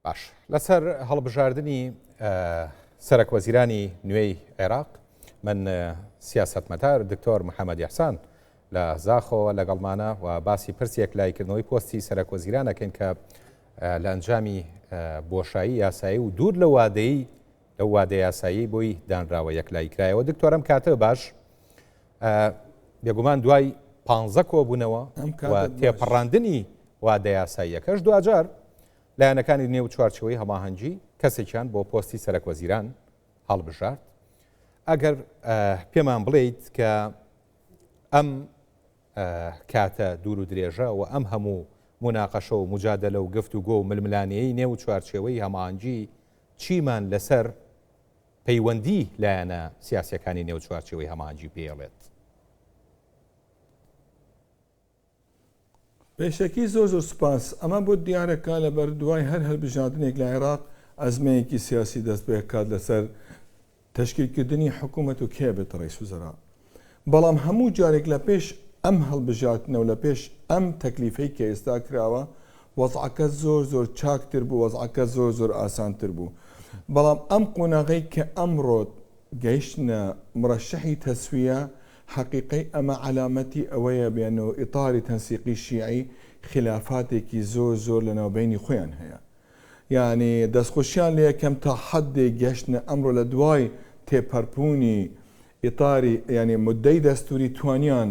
باش لەسەر هەڵبژاردنی سەرەک وەزیرانی نوێی عێراق من سیاستمەدار دکتۆر محەممەد یحسان لە زاخۆوە لەگەڵمانە و باسی پرسێک لایکردنەوەی پۆستی سەرەک وەزیرانەکەین کە لە ئەنجامی بۆشایی یاسایی و دوور لە وادەی لە وادە یاسایی بۆی دانراوە یەکلای کرایەوە دکتۆرم کاتە باش بێگومان دوای پ کۆبوونەوە تێپەڕاندنی وادە یاساییەکەش دوجار لایەنەکانی نێو چوارچێوەی هەماهەنگی کەسێکیان بۆ پۆستی سەرەک وەزیران هەڵبژارد ئەگەر پێمان بڵێیت کە ئەم کاتە دوور و درێژە و ئەم هەموو مناقەشە و مجادلە و گفت و گۆ و ململانەیەی نێو چوارچێوەی هەمانجی چیمان لەسەر پەیوەندی لایەنە سیاسەکانی نێو چوارچێوەی هەمانجی پێڵێت پێشەکی زۆر زۆر سوپاس. ئەمە بۆت دیارە کە لە بەر دوای هەر هەلبژاردنێک لە عێراق ئەزمەیەکی سیاسی دەست بە کات لە سەر تەشکیل کردنی حکومەت و کێ ئەبێتە ڕەیس وزرا بەڵام هەموو جارێک لە پێش ئەم هەلبژاردنە و لە پێش ئەم تەکلیفەی کە ئێستا کراوە وەزعەکە زۆر زۆر چاک تر بوو وەزعەکە زۆر زۆر ئاسان تر بوو بەڵام ئەم قۆناغەی کە ئەمڕۆ گەیشتنە مڕەشەحی تەسویە حەقیقەی ئەمە عەلامەتی ئەوەیە بێن و ئیتاری تەنسیقی شیعی خیلافاتێکی زۆر زۆر لە ناوبەینی خۆیان هەیە یانی دەست خۆشیان لێ ئەکەم تا حەدێک گەشتنە ئەمڕۆ لە دوای تێپەرپوونی ئیتاری یانی مدەی دەستووری توانیان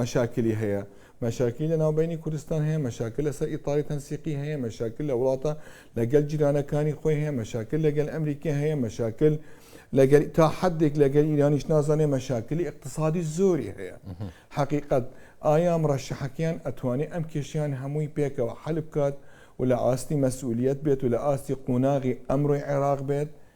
مەشاکلی هەیە، مەشاکلی لە ناوبەینی کوردستان هەیە، مەشاکل لەسەر ئیطاری تەنسیقی هەیە، مەشاکل لە وڵاتە لە گەل جیرانەکانی خۆی هەیە، مەشاکل لە گەل ئەمریکا هەیە، مەشاکل لە گەل تا حەدێک لە گەل ئیرانیش نازانێ مەشاکلی ئیقتسادی زۆری هەیە. حەقیقەت ئایا مرەشەحەکەیان ئەتوانێ ئەم کێشەیان هەمووی پێکەوە حەل بکات و لە ئاستی مەسئولیەت بێت و لە ئاستی قوناغی ئەمرۆی عێراق بێت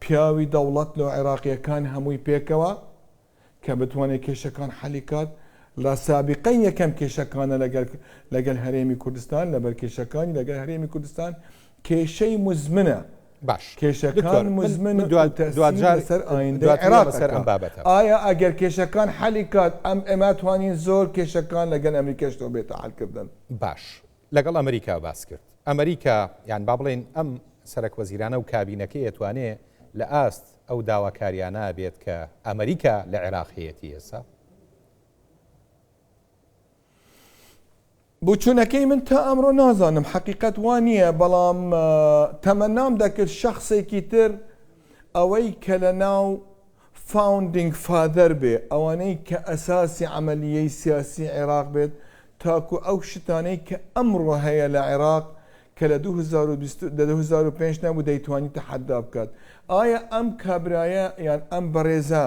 پیاوی دەوڵەت لۆ عێراقیەکان هەمووی پێکەوە کە بتوانێ کێشەکان حەلی کات لە سابیقەی یەکەم کێشەکانە لەگەل لەگەل هەرێمی کوردستان لەبەر کێشەکانی لەگەل هەرێمی کوردستان کێشەی مزمنە باش دکتۆر کێشەکان من مزمن من دوا- و تەسیر دواجار- لەسەر ئایندەی دواجار عێراق لەسەر ئەم ئەکا. بابەتە. ئایا ئەگەر کێشەکان حەلی کات ئەم ئێمە توانین زۆر کێشەکان لەگەل ئەمریکاش تۆ بێتە حەل کردن. باش لەگەڵ ئەمریکا باس کرد. ئەمریکا یان با بڵێین ئەم سەرەک وەزیرانە و کابینەکەی ئەتوانێ لە ئاست ئەو داواکاریانە بێت کە ئەمریکا لە عێراق هەیەتی ئێستا؟ بۆچوونەکەی من تا ئەمڕۆ نازانم حەقیقەت وا نییە بەڵام تەمەنام دەکرد شەخسێکی تر ئەوەی کە لە ناو فاوندینگ فادەر بێ، ئەوانەی کە ئەساسی عەمەلیی سیاسیی عێراق بێت، تاکوو ئەو شتانەی کە ئەمڕۆ هەیە لە عێراق کە لە دوو هەزار و بیست و دوو هەزار و پێنج نەبوو دەیتوانی تەحەددا بکات. ئایا ئەم کابرایە یان ئەم بەڕێزە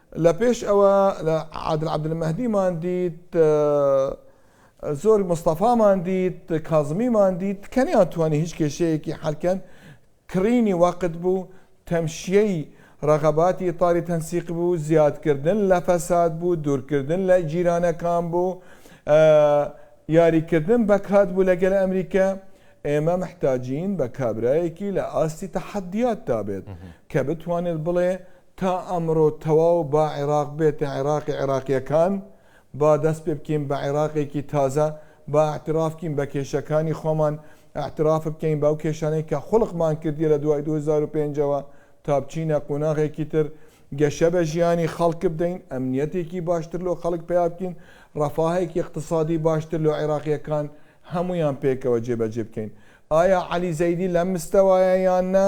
لە پێش ئەوە لە عادل عەبدولمەهدیمان دیت، زۆر مستەفامان دیت، کازمیمان دیت کە نەیانتوانی هیچ کێشەیەکی حەلکەن، کڕینی وەقت بوو، تەمشیەی ڕەغەباتی ئیتاری تەنسیق بوو، زیادکردن لە فەساد بوو، دوورکردن لە جیرانەکان بوو، یاریکردن بە کات بوو لەگەل ئەمریکا، ئێمە محتاجین بە کابرایەکی لە ئاستی تەحەدیاتدا بێت کە بتوانێت بڵێ تا ئەمڕۆ تەواو با عێراق بێتە عێراقی عێراقییەکان، با دەست پێ بکەین بە عێراقێکی تازە، با ئیعتراف بکەین بە کێشەکانی خۆمان، ئیعتراف بکەین بەو کێشانەی کە خوڵقمان کردیە لە دوای دوو هەزار و پێنج ەوە تا بچینە قوناغێکی تر، گەشە بە ژیانی خەڵک بدەین، ئەمنیەتێکی باشتر لۆ خەڵک پەیا بکەین، ڕەفاهێکی ئیقتسادی باشتر لۆ عێراقییەکان هەموویان پێکەوە جێبەجێ بکەین. ئایا عەلی زەیدی لەم مستەوایە یان نا؟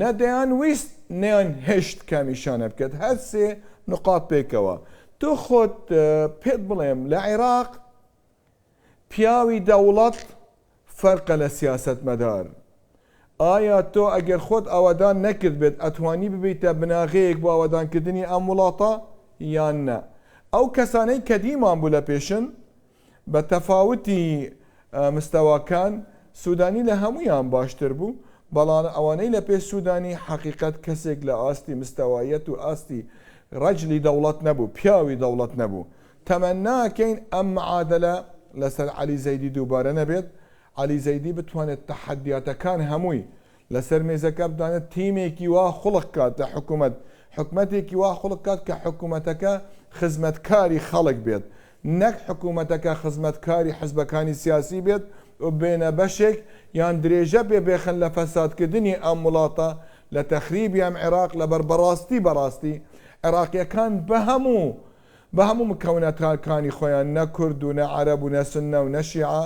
نە دەیانویست نەیان هێشت کامیشانە بکەت هەر سێ نقاط پێکەوە تۆ خۆت پێت بڵێم لە عێراق پیاوی دەوڵەت فەرقە لە سیاسەت مەدار ئایا تۆ ئەگەر خۆت ئاوادان نەکرد بێت ئەتوانی ببیتە بناغەیەک بۆ ئاوادانکردنی ئەم وڵاتە یان نە ئەو کەسانەی کە دیمان بوو لە پێشن بە تەفاوتی مستەواکان سودانی لە هەموویان باشتر بوو، بەڵام ئەوەنەی لە پێش سودانی حەقیقەت کەسێک لە ئاستی مستەوایەت و ئاستی رەجلی دەوڵەت نەبوو، پیاوی دەوڵەت نەبوو. تەمەناکەین ئەم معادەلە لەسەر عەلی زەیدی دووبارە نەبێت، عەلی زەیدی بتوانێت تەحەدیاتەکان هەمووی لەسەر مێزەکە بتوانێت تیمێکی وا خڵق کات لە حکومەت، حکومەتێکی وا خڵق کات کە حکومەتەکە خزمەتکاری خەڵک بێت، نەک حکومەتەکە خزمەتکاری حزبەکانی سیاسی بێت و بێنە بەشێک یان درێژە پێ بخەن لە فەسادکردنی ئەم وڵاتە، لە تەخریبی ئەم عێراق، لەبەر بەڕاستی بەڕاستی عێراقییەکان بە هەموو بە هەموو مکەونەتاکانی خۆیان نە کورد و نە عەرەب و نە سوننە و نە شیعە،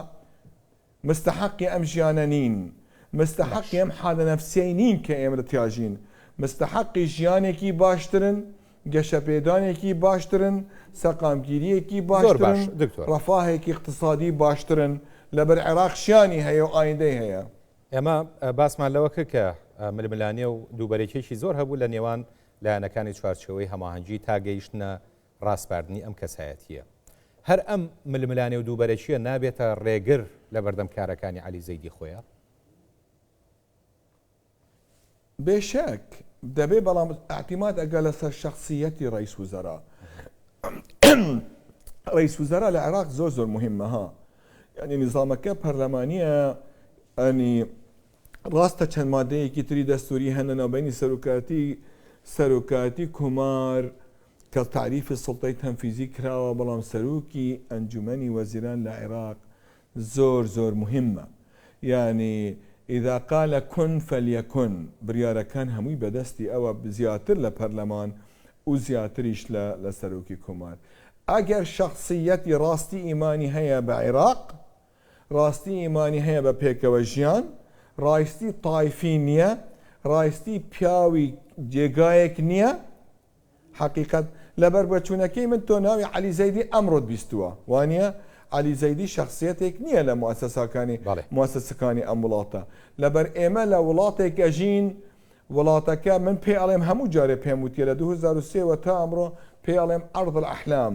مستەحەقی ئەم ژیانە نین، مستەحەقی باش. ئەم حالە نەفسیەی نین کە ئێمە لە تیاژین، مستەحەقی ژیانێکی باشترن، گەشەپێدانێکی باشترن، سەقامگیریەکی زۆر باشترن، باش دکتۆر. ڕەفاهێکی ئیقتسادی باشترن، لەبەر عێراق شیانی هەیە و ئایندەی هەیە. ئێمە باسمان لەوە کرد کە ململانێ و دووبەرەکیەکی زۆر هەبوو لە نێوان لایەنەکانی چوارچێوەی هەماهەنگی تا گەیشتنە ڕاسپاردنی ئەم کەسایەتییە. هەر ئەم ململانێ و دووبەرەکییە نابێتە ڕێگر لە بەردەم کارەکانی عەلی زەیدی خۆیا؟ بێ شک دەبێ، بەڵام ئیعتیماد ئەکا لە سەر شەخسییەتی ڕەییس وزەرا. ڕەییس وزەرا لە عێراق زۆر زۆر موهیممە ها. یانی نیزامەکە پەرلەمانییە یانی ڕاستە چەند مادەیەکی تری دەستووری هەن لەناوبەینی سەرۆکاتی سەرۆکاتی کۆمار کە تەعریفی سوڵتەی تەنفیزی کراوە بەڵام سەرۆکی ئەنجومەنی وەزیران لە عێراق زۆر زۆر موهیمە یانی اذا قال کن فلیکن بڕیارەکان هەمووی بەدەستی ئەوە زیاتر لە پەرلەمان و زیاتریش لە لە سەرۆکی کۆمار ئەگەر شەخسییەتی ڕاستی ئیمانی هەیە بە عێراق ڕاستی ئیمانی هەیە بە پێکەوە ژیان ڕایستی تایفی نیە ڕایستی پیاوی جێگایەک نیە حەقیقەت لەبەر بەچونەکەی من تۆ ناوی علی زەیدی ئەمڕۆت بیستووە وانە علی زەیدی شخصیتێک نییە لە موسەساکانی موسەسەکانی ئەم وڵاتە لەبەر ئێمە لە وڵاتێک ئەژین وڵاتەکە من پێ ئەڵێم هەموو جارێ پێم وتیە لە 2023 وە تا ئەمڕۆ پێ ئەڵێم عرض الأحلام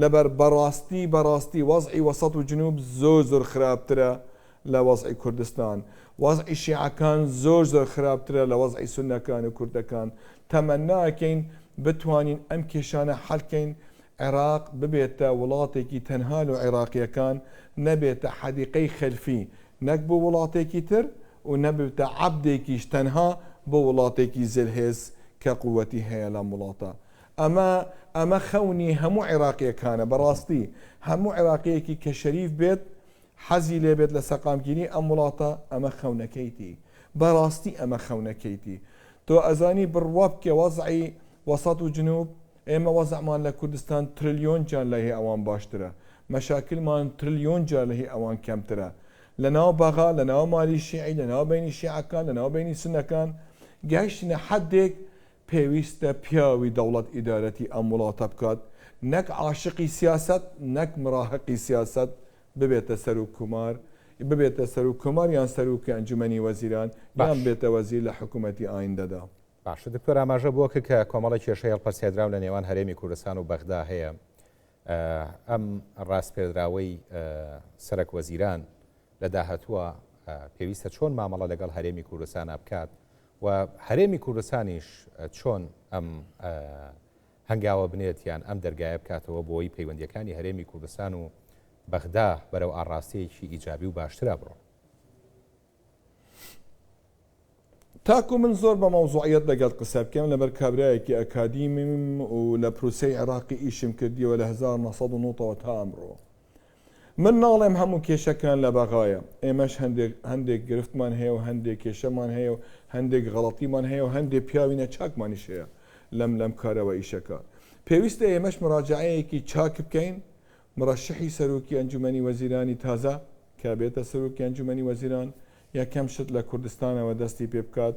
لەبەر بەڕاستی بەڕاستی وەزعی وەسەت و جنوب زۆر زۆر خراپترە لە وەزعی کوردستان وەزعی شیعەکان زۆر زۆر خراپترە لە وەزعی سونەکان و کوردەکان تەمەناکەین بتوانین ئەم کێشانە حەلکەین عێراق ببێتە وڵاتێکی تەنها لۆ عێراقیەکان نەبێتە حەدیقەی خەلفی نەک بۆ وڵاتێکی تر و نەبێتە عەبدێکیش تەنها بۆ وڵاتێکی زلهێز کە قوتی هەیە لەم وڵاتە ئەمە ئەمە خەونی هەموو عێراقیەکانە بەڕاستی هەموو عێراقیەکی کە شەریف بێت حەزی لێ بێت لە سەقامگیری ئەم وڵاتە ئەمە خەونەکەیتی بەڕاستی ئەمە خەونەکەیتی تۆ ئەزانی بڕوا بکە وەزعی وەسەت و جنوب ئێمە وەزعمان لە کوردستان ترلیۆن جار لە هی ئەوان باشترە مەشاکلمان ترلیۆن جار لە هی ئەوان کەمترە لە ناو بەغا لە ناو مالی شیعی لە ناو بینی شیعەکان لە ناو بینی سونەکان گەیشتینە حەدێک پێویستە پیاوی دەوڵەت ئیدارەتی ئەم وڵاتە بکات نەک عاشقی سیاسەت نەک مراهقی سیاسەت ببێتە سەروک کومار ببێتە سەروک کومار یان سەروکی ئەنجومەنی وەزیران یان باش بێتە وەزیر لە حکومەتی ئایندەدا. باشە دکتۆر ئاماژە بۆ کە کە کۆمەڵە کێشەی هەڵپەسێردراو لە نێوان هەرێمی کوردستان و بەغدا هەیە ئە ئەم ڕاسپێردراوەی ئە سەرەک وەزیران لە داهتووە ئە پێویستە چۆن مامەڵە لەگەڵ هەرێمی کوردستانا بکات و هەرێمی کوردستانیش چۆن ئەم هەنگاوە بنێت یان ئەم دەرگایە بکاتەوە بۆی پەیوەندیەکانی هەرێمی کوردستان و بەغدا بەرەو ئاڕاستەیەکی ئیجابی و باشترا بڕۆن. تاکو من زۆر بە مەوزوعیەت لەگەڵت قسە بکەم لەبەر کابرایەکی ئەکادیمیم و لە پروسەی عێراقی ئیشم کردیەوە لە هەزار و نۆ سەد و نۆ ەوە تا ئەمڕۆ من ناڵێم هەموو کێشەکان لە بەغایە، ئێمەش هەندێک هەندێک گرفتمان هەیە و هەندێ کێشەمان هەیە و هەندێک غەڵەتیمان هەیە و هەندێ پیاوی نەچاکمانیش هەیە لەم لەم کارە و ئیشەکە. پێویستە ئێمەش مراجەعەیەکی چاک بکەین، مرەشحی سەرۆکی ئەنجومەنی وەزیرانی تازە کە بێتە سەرۆکی ئەنجومەنی وەزیران یەکەم شت لە کوردستانەوە دەستی پێ بکات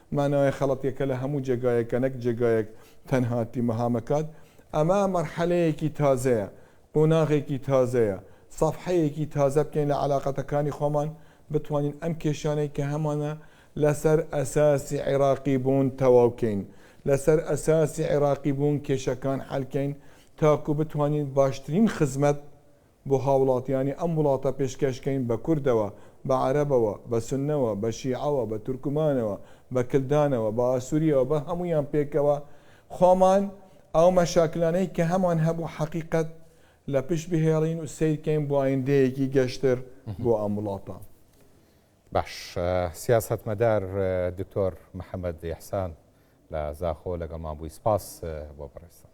مانایە خەڵەتیەکە لە هەموو جێگایەکە نەک جێگایەک تەنها تیمهامەکات ئەمە مەرحەلەیەکی تازەیە قوناغێکی تازەیە سەفحەیەکی تازە بکەین لە عەلاقەتەکانی خۆمان بتوانین ئەم کێشانەی کە هەمانە لەسەر ئەساسی عیراقی بوون تەواو کەین لەسەر ئەساسی عیراقی بوون کێشەکان حەل کەین تاکو بتوانین باشترین خزمەت بۆ هاوڵاتیانی ئەم وڵاتە پێشکەش کەین بە کوردەوە، بە عەرەبەوە، بە سوننەوە، بە شیعەوە، بە تورکمانەوە، بە کلدانەوە، بە ئاسوریەوە، بە هەموویان پێکەوە خۆمان ئەو مەشاکلانەی کە هەمان هەبوو حەقیقەت لە پشت بهێڵین و سەیر کەین بۆ ئایندەیەکی گەشتر بۆ ئەم وڵاتە. باش. سیاسەتمەدار دکتۆر محەمەد ئیحسان لە زاخۆ لەگەڵمان بووی. سپاس بۆ بەڕێزتان.